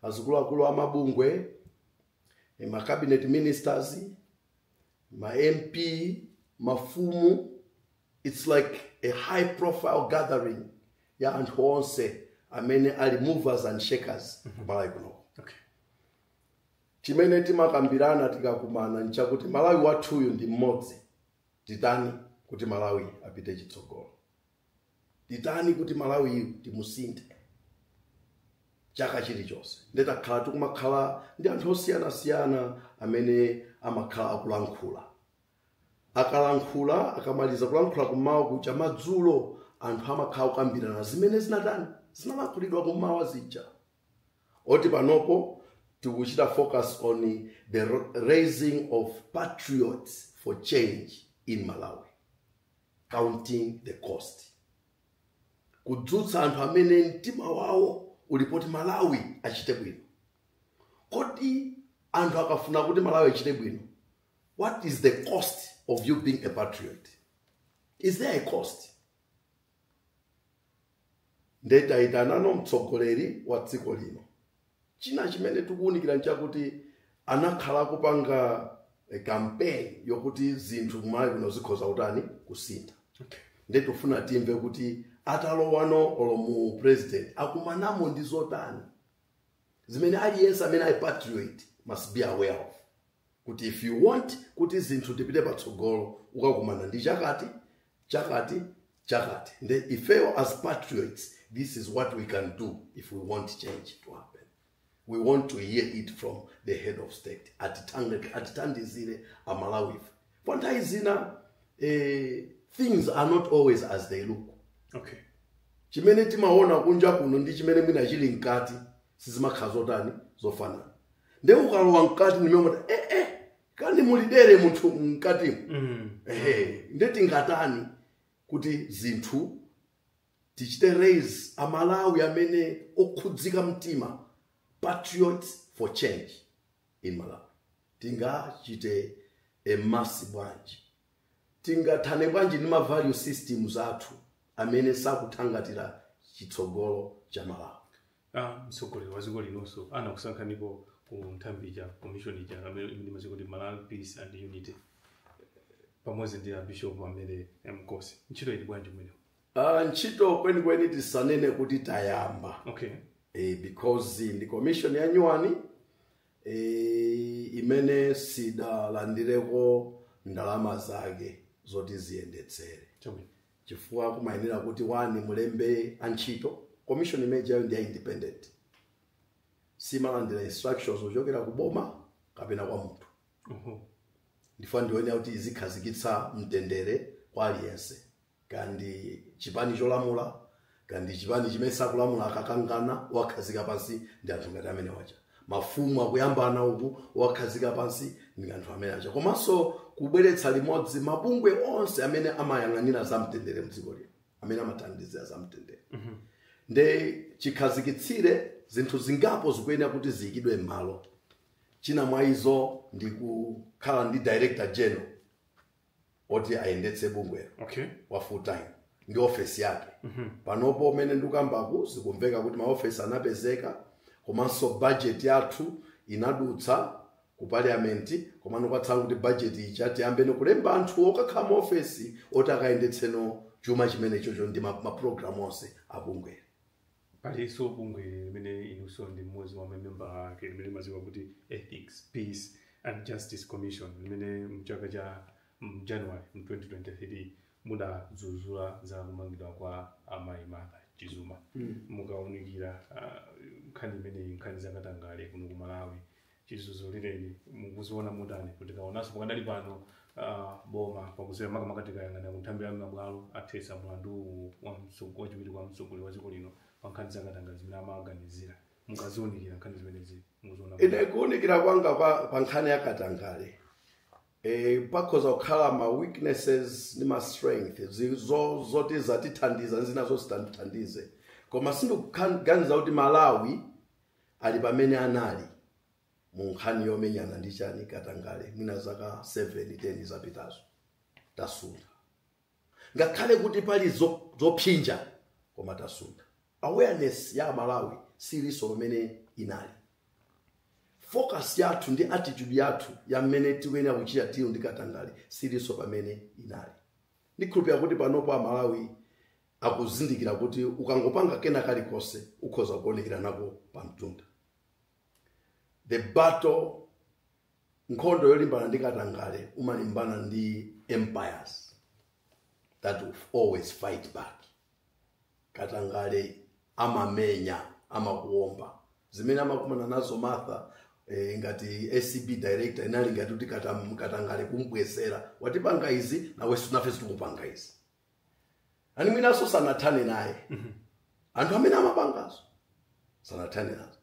azikuluakulu a mabungwe eh, ma cabinet ministers ma MP, mafumu, it's like a high profile gathering ya anthu onse amene ali movers and shakers ku Malawi kuno. Okay. Chimene timakambirana tikakumana nchakuti Malawi wathuyu ndi mmodzi titani kuti Malawi apite chitsogolo. titani kuti malawi timusinthe chaka chilichonse nde takhala tikumakhala ndi anthu osiyanasiyana amene amakhala akulankhula akalankhula akamaliza kulankhula kum'mawa kucha madzulo anthu amakhala akukambirana zimene zinatani zinalankhulidwa kum'mawa zija oti panopo tikuchita focus on the raising of patriots for change in malawi counting the cost kudzutsa anthu amene mtima wawo uli poti malawi achite bwino kodi anthu akafuna kuti malawi achite bwino what is the cost of you being a patriot is there a cost nde taitanano mtsogoleri wa dziko lino china chimene tikuwunikira nchakuti anakhala akupanga eh, campaign yokuti zinthu kumalawi kuno zikhoza kutani kusintha nde tufuna timve kuti atalowano olo mu president akumanamo ndi zotani zimene aliyense amene ali patriot must be aware of kuti if you want kuti zinthu tipite patsogolo ukakumana ndi chakati chakati chakati nde ifeyo as patriots this is what we can do if we want change to happen we want to hear it from the head of state Atitang- atithandizire amalawife chifukwa nthawi zina eh, things are not always as they look okay chimene timaona kunja kuno ndi chimene mwina chili mkati sizimakhala zotani zofanana nde ukalowa mkati ndi momuda eh, eh, kani mulidere munthu mkatimo Mm. ehe nde tingatani kuti zinthu tichite raise amalawi amene okhudzika mtima patriots for change in malawi tingachite amass bwanji tingathane bwanji ndi mavalue systems athu amene sakuthangatira chitsogolo cha malawi a mtsogoleri wa dziko linonso anakusankhaniko ku nthambi ija commission ija amene mene imachita kuti malawi peace and unity pamodzi ndi abishop a mary nkosi ntchito ili bwanji kumeneko Ah, ntchito kwenikweni tisanene kuti tayamba okay eh, because ndi commission ya nyuwani eh, imene sidalandireko ndalama zake zoti ziyendetsere chabwino chifukwa kumayenera kuti wani mulembe antchito commission imeneyo ndi ya independent siimalandira instructions kuchokera ku boma kapena kwa munthu Oho. ifuna ione kuti izikhazikitsa mtendere kwa aliyense kandi chipani cholamula ka ndi chipani chimene sakulamula akakangana wakhazika pansi ndi anthu ngati amenewa cha mafumu akuyambana ukuwakhazika pansi ndi anthu amenewa cha komanso kubweretsa limodzi mabungwe onse amene amayang'anira za mtendere mdziko lino amene amathandizira za mtendere nde chikhazikitsire zinthu zingapo zikuyenera kuti ziyikidwe m'malo china mwa izo ndi kukhala ndi director general oti ayendetse bungwelo okay wa full time ndi ofesi yake panopo umene ndikukambaku zikumveka kuti maofesi anapezeka komanso bajeti yathu inadutsa ku parliament komano kwatsala kuti bajetiyi cha tiyambeni kulemba anthu okakhala m'maofesi oti akayendetseno chuma chimenechocho ndi ma- maprogramu onse abungwelo Palinso bungwe limene inunso ndi mmodzi mwa mamembala ake limene limadziwika kuti Ethics, Peace and Justice Commission limene m'chaka cha m'January mu 2023 mudadzudzula za kumangidwa kwa amayi Martha Chizuma. Mukaunikira ah, nkhani imeneyi, nkhani za katangale kuno ku Malawi, chizuzulireni mukuziona motani kutikaonanso pakadali pano ah, boma pakuzera makamaka tikayang'ana ku nthambi ya mabwalo athetsa mlandu uwu wa mtso- wachiwiri kwa mtsogoleri wa dziko lino pa nkhani zakatangale zimene amaganiziridwa mukaziunikira nkhani zimenezi mukuziona motani? ine kuunikira kwanga pa, pa nkhani ya katangale e, pakhoza kukhala ma weaknesses ndi ma strength zi- zo- zoti zatithandiza ndi zina zosatithandiza koma sindikuganiza kuti malawi ali pamene anali mu nkhani yomenyana ndi chani katangale mwina zaka 7 10 zapitazo tasuntha ngakhale kuti pali zo- zopsinja koma tasuntha awareness ya amalawi silinso pamene inali focus yathu ndi attitude yathu ya mmene tikuyenera kuchita deal ndi katangale silinso pamene inali ndikhulupira kuti panopo amalawi akuzindikira kuti ukangopanga kena kalikonse ukhoza kuonekera nako pa mtunda the battle nkhondo yolimbana ndi katangale umalimbana ndi empires that will always fight back katangale amamenya amakuomba zimene amakumana nazo martha eh, ngati acb director inali ngati kuti katam- katangale akumbwezera watipanga izi nawenso nafe tikupanga izi ani mwinanso sanathane naye anthu amene amapangazo sanathane nazo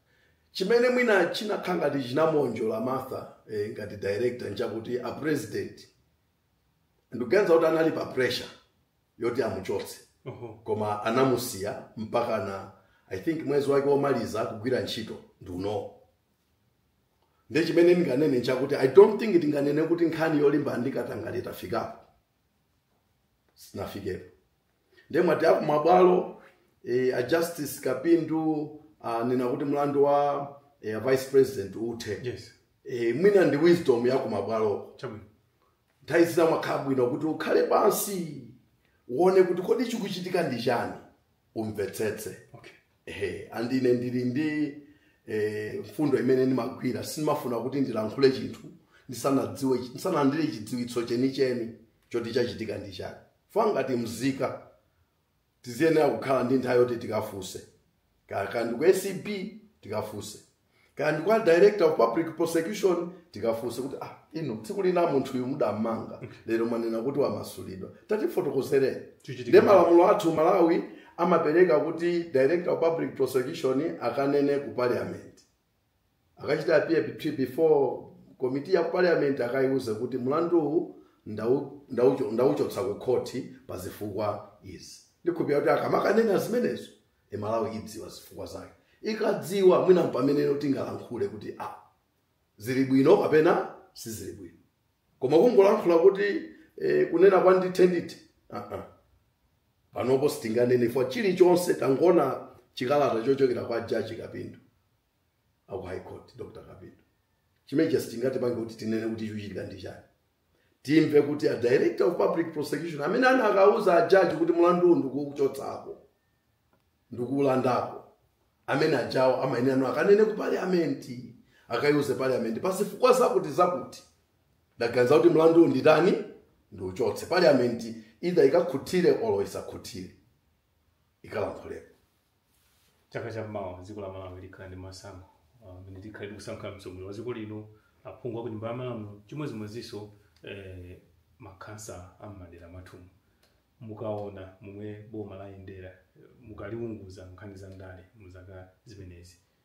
chimene mwina chinakhala ngati chinamuwonjola martha eh, ngati director nchakuti a president ndikuganiza kuti anali pa pressure yoti amuchotse Oho. koma anamusiya mpakana i think mwezi wake womaliza kugwira ntchito ndi unowu nde chimene ndinganene nchakuti i don't think tinganene kuti nkhani yolimbana ndi katangale tafikapo sitinafikepo ndiye mwati a kumabwalo e, a justice kapindu anena kuti mlandu wa e, a vice president uthe yes e, mwina ndi wisdom ya kumabwaloko chabwino nthawi zina kumakhala bwino kuti ukhale pansi uone kuti kodi chikuchitika ndi chani umvetsetse okay ehe and ine ndili ndi eh, mfundo imene ndimagwira sindimafuna kuti ndilankhule chinthu ndisanadziwe ndisanalandire chidziwitso chenicheni choti chachitika ndi chani ifa ngati mzika tikuyenera kukhala ndi nthawi yoti tikafunse kaya ndi ku acb tikafunse kaya ndi kwa director of public prosecution tikafunse kuti ah inu tsiku lina munthu uyu mudammanga lero mwanena kuti wamasulidwa tatifotokozereni Chichitika. nde malamulo athu malawi amapereka kuti director of public prosecution akanene ku parliament akachite appear between- before komiti ya parliament akayiuze kuti mlandu uwu ndau- ndaucho- ndauchotsa ku khoti pa zifukwa izi ndikukhulupirira kuti akamakanena zimenezo e a malawi adziwa zifukwa zake akadziwa mwina mpamene tingalankhule kuti a zili bwino kapena sizili bwino koma kungolankhula kuti e, kunena kwa ndithe ndithe uh -uh. panopo sitinganene chifukwa chilichonse tangoona chikalata chochokera kwa jaji kapindu aku high court dr kapindu chimenechi sitingatipange kuti tinene kuti chikuchitika ndi chani timve kuti a director of public prosecution amene anakawauza ajaji kuti mlanduwu ndikuuchotsako ndikuulandako amene ajawo amayenera anu akanene ku paliamenti akaiuze paliamenti pazifukwa zakuti zakuti ndaganiza kuti mlanduwu nditani ndiuchotse paliamenti either ikakhutire olo isakhutire ikalankhuleko chaka cha mmawa dziko la malawi likhala ndi masankho amene uh, tikhale tikusankha mtsogoleri wa dziko lino aphungu a ku nyumba ya malamulo chimodzimodzinso eh, makhansala a mmadera mwathumu mukaona momwe boma layendera mukaliunguza nkhani za ndale mu zaka zimenezi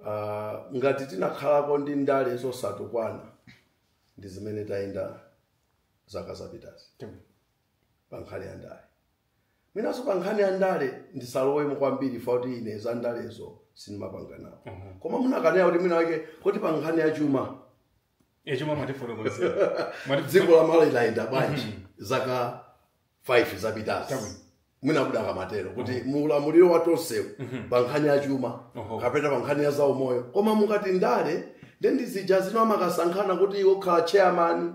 uh, ngati tinakhalako ndi ndale zosatukwana ndi zimene tayenda zaka zapitazi pa nkhani ya ndale mwinanso pa nkhani ya ndale ndisalowemo kwambiri fa kuti ine za ndalezo sindimapanga nawo koma munakanena kuti mwina mwake kuti pa nkhani ya chuma e chomwe mwatifotokozera Mwati- dziko la malawi layenda bwanji zaka 5 zapitazi Chabwino. mwina mukadamatero kuti muulamuliro wa tonsewu pa nkhani ya chuma Oho. kapena pa nkhani ya zaumoyo koma mukati ndale nde ndi zija zina amakasankhana kuti iwe ukhala chairman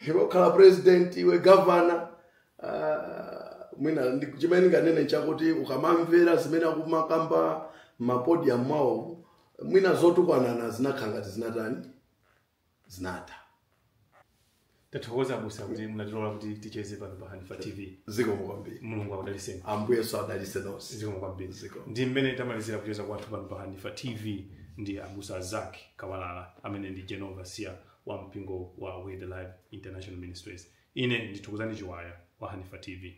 iwe ukhala president iwe governor Ah, mwina ndi- chimene ndinganene chakuti ukamamvera zimene akumakamba mapodiyamu mwawo mwina zotukwanana zinakhala ngati zinatani zinatha tathokoza abusa kuti munatilola kuti ticheze pano pa hanifa tv zikomo kwambiri mulungu akudalitseni ambuyenso adalitse nonse zikomo kwambiri Zikomo. ndi mmene tamalizira kucheza kwathu pano pa hanifa tv ndi abusa Zacc Kawalala amene ndi general overseer wa mpingo wa Word Alive International Ministries. Ine ndi Thokozani Chiwaya wa Hanifa TV.